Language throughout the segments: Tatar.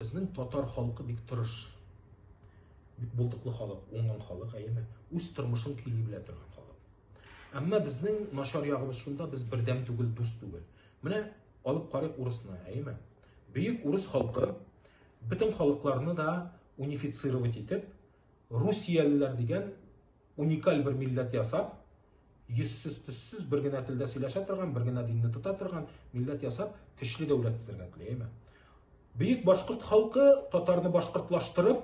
Безнең татар халкы бик тырыш. Бик булдыклы халык, уңган халык, әйеме? Үз тормышын көйли белә торган халык. Әмма безнең начар ягыбыз шунда, без бердәм түгел, дус түгел. Менә алып карыйк урысны, әйеме? Бөек урыс халкы бөтен халыкларны да унифицировать итеп, русиялеләр дигән уникаль бер милләт ясап, йөзсез, төссез, бер генә телдә сөйләшә торган, бер генә динне тота торган милләт ясап, көчле дәүләт төзергә тели, әйме? Бөек башкорт халкы татарны башкортлаштырып,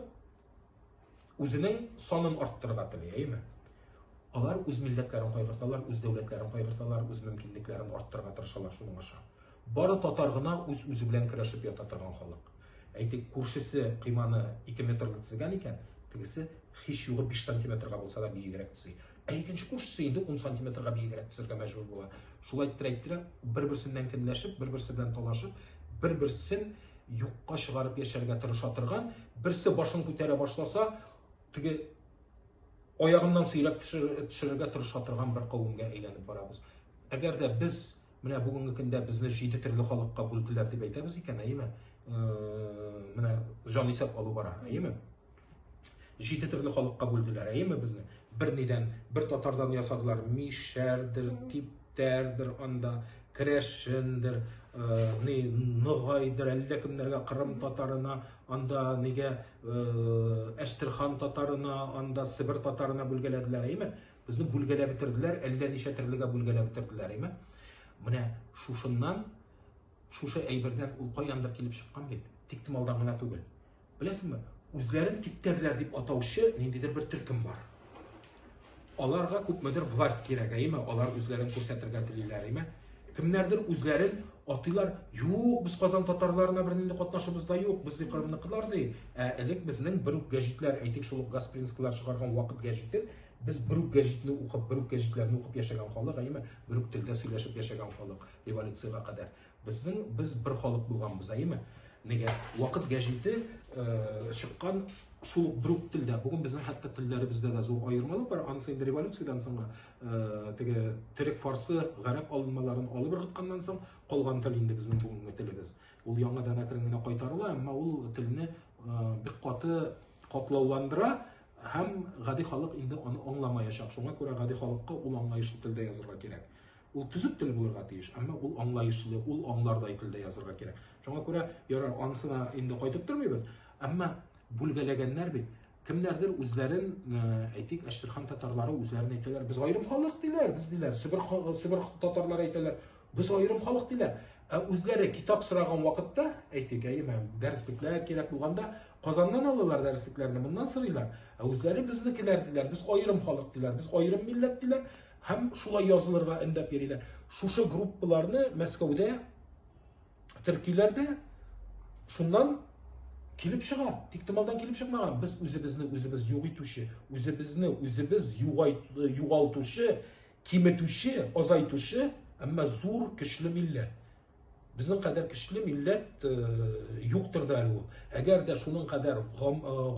үзенең санын арттырырга тели, әйме? Алар үз милләтләрен кайгырталар, үз дәүләтләрен кайгырталар, үз мөмкинлекләрен арттырырга тырышалар шуның аша. Бары татар гына үз-үзе белән көрәшеп ята торган халык. Әйтик, күршесе койманы ике метрлы тезгән икән, тегесе һич югы биш сантиметрга булса да биегрәк тезый. Ә икенче күршесе инде ун сантиметрга биегрәк тезергә мәҗбүр була. Шул әйттерә-әйттерә, бер-берсеннән кенләшеп, бер-берсе белән талашып, бер-берсен юкка чыгарып яшәргә тырыша торган, берсе башын күтәрә башласа, теге аягыннан сөйрәп төшерергә тырыша торган бер кавемгә әйләнеп барабыз. Әгәр дә без Менә бүгенге көндә безне җиде төрле халыкка бүлделәр дип әйтәбез икән, әйеме? Менә җан исәп алу бара, әйеме? Җиде төрле халыкка бүлделәр, әйеме безне? Бер нидән, бер татардан ясадылар, мишәрдер, типтәрдер анда, керәшендер, ни ногайдыр, әллә кемнәргә Кырым татарына, анда нигә Әстерхан татарына, анда Себер татарына бүлгәләделәр, әйеме? Безне бүлгәләп бетерделәр, әллә ничә төрлегә бүлгәләп бетерделәр, әйме? Менә шушыннан, шушы әйбердән ул каяндыр килеп чыккан бит. Тик томалдан гына түгел. Беләсеңме, үзләрен типтәрләр дип атаучы ниндидер бер төркем бар. Аларга күпмедер власть кирәк, әйме? Алар үзләрен күрсәтергә телиләр, әйме? Кемнәрдер үзләрен атыйлар, юк, без Казан татарларына бер нинди катнашыбыз да юк, без Кырымныкылар ди. Ә элек безнең бер үк гәҗитләр, әйтик, шул Гаспринскилар чыгарган вакыт гәҗите, Без бер үк гәҗитне укып, бер үк гәҗитләрне укып яшәгән халык, әйеме? Бер үк телдә сөйләшеп яшәгән халык революциягә кадәр. Безнең без бер халык булганбыз, әйеме? Нигә? Вакыт гәҗите э, чыккан шул ук бер үк телдә. Бүген безнең хәтта телләребездә дә зур аермалык бар. Анысы инде революциядән соң э, теге төрек, фарсы, гарәп алынмаларын алып ыргытканнан соң калган тел инде безнең бүгенге телебез. Ул яңадан әкрен генә кайтарыла, әмма ул телне э, бик каты катлауландыра Һәм гади халык инде аны аңламаячак. Шуңа күрә гади халыкка ул аңлаешлы телдә язырга кирәк. Ул төзек тел булырга тиеш, әмма ул аңлаешлы, ул аңлардай телдә язырга кирәк. Шуңа күрә ярар, анысына инде кайтып тормыйбыз, әмма бүлгәләгәннәр бит. Кемнәрдер үзләрен, э, әйтик, Әштерхан татарлары үзләрен әйтәләр, без аерым халык диләр, без диләр, Себер, Себер татарлары әйтәләр, без аерым халык диләр. Ә үзләре китап сораган вакытта, әйтик, әйеме, дәреслекләр кирәк булганда, Казаннан алалар дәреслекләрне, моннан сорыйлар. Ә үзләре безнекеләр диләр, без аерым халык диләр, без аерым милләт диләр һәм шулай язылырга өндәп йөриләр. Шушы группаларны Мәскәүдә төркиләр дә шуннан килеп чыга. Тиктомалдан килеп чыкмаган. Без үзебезне үзебез юк итүче, үзебезне үзебез югалтучы, киметүче, азайтучы, әмма зур, көчле милләт. Безнең кадәр көчле милләт юктыр да әле ул. Әгәр дә шуның кадәр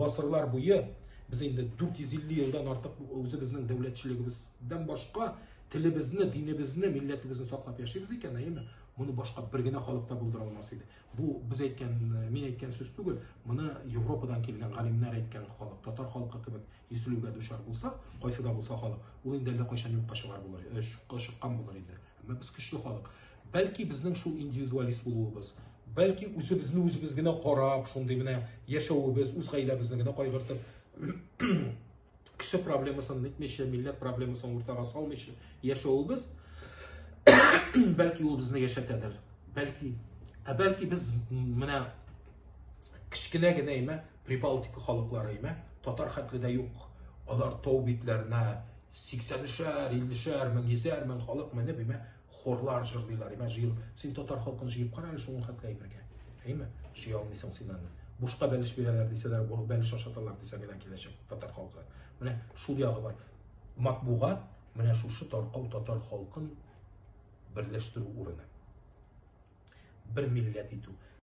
гасырлар буе без инде 450 елдан артык үзебезнең дәүләтчелегебездән башка телебезне, динебезне, милләтебезне саклап яшибез икән, әйеме? Моны башка бер генә халык та булдыра алмас иде. Бу без әйткән, мин әйткән сүз түгел. Моны Европадан килгән галимнәр әйткән халык, татар халкы кебек изелүгә дучар булса, кайсы да булса халык, ул инде әллә кайчан юкка чыгар булыр, чыккан булыр иде. Әмма без көчле халык. Бәлки безнең шул индивидуалист булуыбыз, бәлки үзебезне үзебез генә карап, шундый менә яшәвебез, үз гаиләбезне генә кайгыртып, кеше проблемасын нитмичә, милләт проблемасын уртага салмыйча яшәвебез, бәлки ул безне яшәтәдер. Бәлки. Ә бәлки без менә кечкенә генә имә Прибалтика халыклары имә татар хәтле дә юк. Алар тау битләренә Сиксәнешәр, иллешәр, мең йөзәр, мең халык менеп, имә, хорлар җырлыйлар, имә, җыел. Син татар халкын җыеп кара әле шуның хәтле әйбергә. Әйме? Җыя алмыйсың син аны. Бушка бәлеш бирәләр дисәләр, бур бәлеш ашаталар дисә генә киләчәк татар халкы. Менә шул ягы бар. Матбугат менә шушы таркау татар халкын берләштерү урыны. Бер милләт итү.